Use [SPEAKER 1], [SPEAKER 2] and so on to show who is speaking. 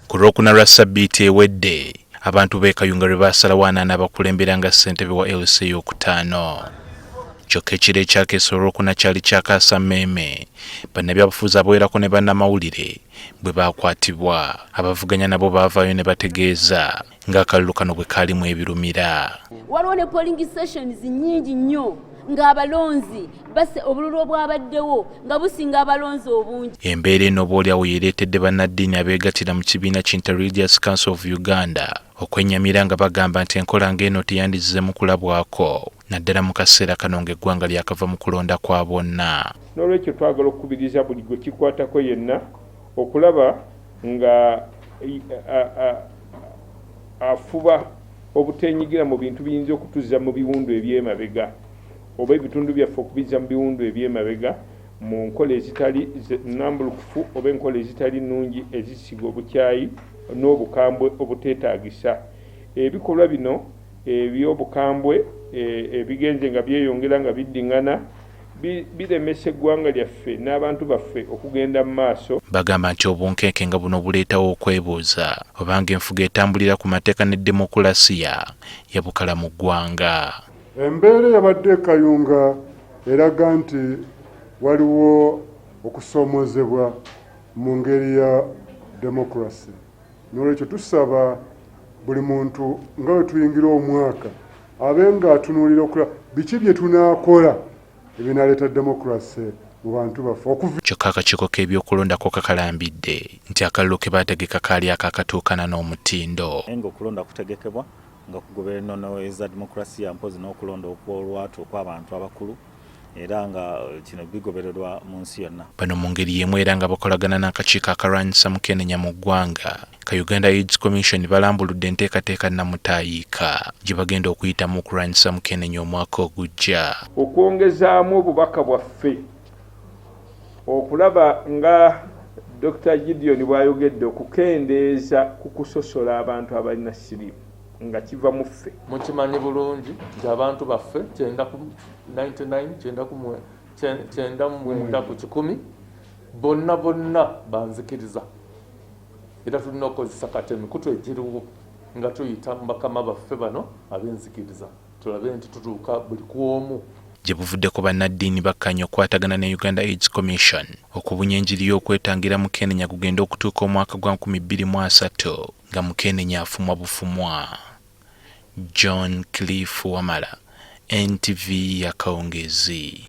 [SPEAKER 1] Ku lwokuna lwa ssabbiiti ewedde, abantu b'e Kayunga lwe baasalawo ani anaabakulembera nga ssentebe wa LC ey'okutaano. Kyokka ekiro ekyakeesa Olwokuna kyali kya kaasammeeme, bannabyabufuzi abawerako ne bannamawulire bwe baakwatibwa. Abavuganya nabo baavaayo ne bategeeza ng'akalulu kano bwe kaalimu ebirumira. Waliwo ne polling
[SPEAKER 2] sessions nnyingi nnyo ng'abalonzi base obululu obwabaddewo nga businga abalonzi obungi. Embeera eno oboolyawo yeereetedde bannaddiini abeegattira mu kibiina ki Interreligious Council of Uganda okwennyamira nga bagamba nti enkola ng'eno teyandizzeemu kulabwako. naddala mu kaseera kano ng'eggwanga lyakava mu kulonda kwa bonna. N'olwekyo twagala
[SPEAKER 3] okukubiriza buli gwe kikwatako yenna okulaba nga afuba obuteenyigira mu bintu biyinza okutuzza mu biwundu eby'emabega oba ebitundu byaffe okubizza mu biwundu eby'emabega mu nkola ezitali nnambulukufu oba enkola ezitali nnungi ezisiga obukyayi n'obukambwe obuteetaagisa. Ebikolwa bino Eby'obukambwe ebigenze nga byeyongera nga biddingana biremesa eggwanga lyaffe n'abantu baffe okugenda mu maaso. Bagamba nti obunkenke
[SPEAKER 1] nga buno buleetawo okwebuuza obanga enfuga etambulira ku mateeka ne demokulasiya yabukala mu ggwanga. Embeera
[SPEAKER 4] eyabadde e Kayunga eraga nti waliwo okusoomoozebwa mu ngeri ya demokulasiya. N'olwekyo tusaba buli muntu nga bwe tuyingira omwaka abe ng'atunuulira okulaba biki bye tunaakola ebinaaleeta demokulase mu bantu baffe okuva kyokka akakiiko
[SPEAKER 1] k'ebyokulonda ko kakalambidde nti akalulu ke baategeka kaali akaakatuukana n'omutindo naye ng'okulonda kutegekebwa
[SPEAKER 5] nga kugoberera ennono eza demokulasiya mpozzi n'okulonda okw'olwatu okw'abantu abakulu era nga eh, kino bigobererwa mu nsi yonna. Bano mu ngeri y'emu era nga bakolagana n'akakiiko akalwanyisa mukenenya mu ggwanga ka Uganda AIDS Commission balambuludde enteekateeka nnamutaayiika gye bagenda okuyitamu okulwanyisa mukenenya omwaka ogujja. Okwongezaamu
[SPEAKER 3] obubaka bwaffe okulaba nga Dokita Gideon bw'ayogedde okukendeeza ku kusosola abantu abalina siriimu. nga kiva mu ffe. Mukimanyi bulungi
[SPEAKER 6] nti abantu baffe kyenda ku 99 kyenda ku kyenda mwenda ku kikumi bonna bonna banzikiriza era tulina okukozesa kati emikutu egiriwo nga tuyita mu bakama baffe bano ab'enzikiriza tulabe nti tutuuka buli ku omu gye buvuddeko
[SPEAKER 1] bannaddiini bakkanya okukwatagana ne uganda aids commission okubunya enjiri y'okwetangira mu kenenya gugenda okutuuka omwaka gwa 2030 nga mukenenya afumwa bufumwa. John Cliff Wamala, NTV Akawungeezi.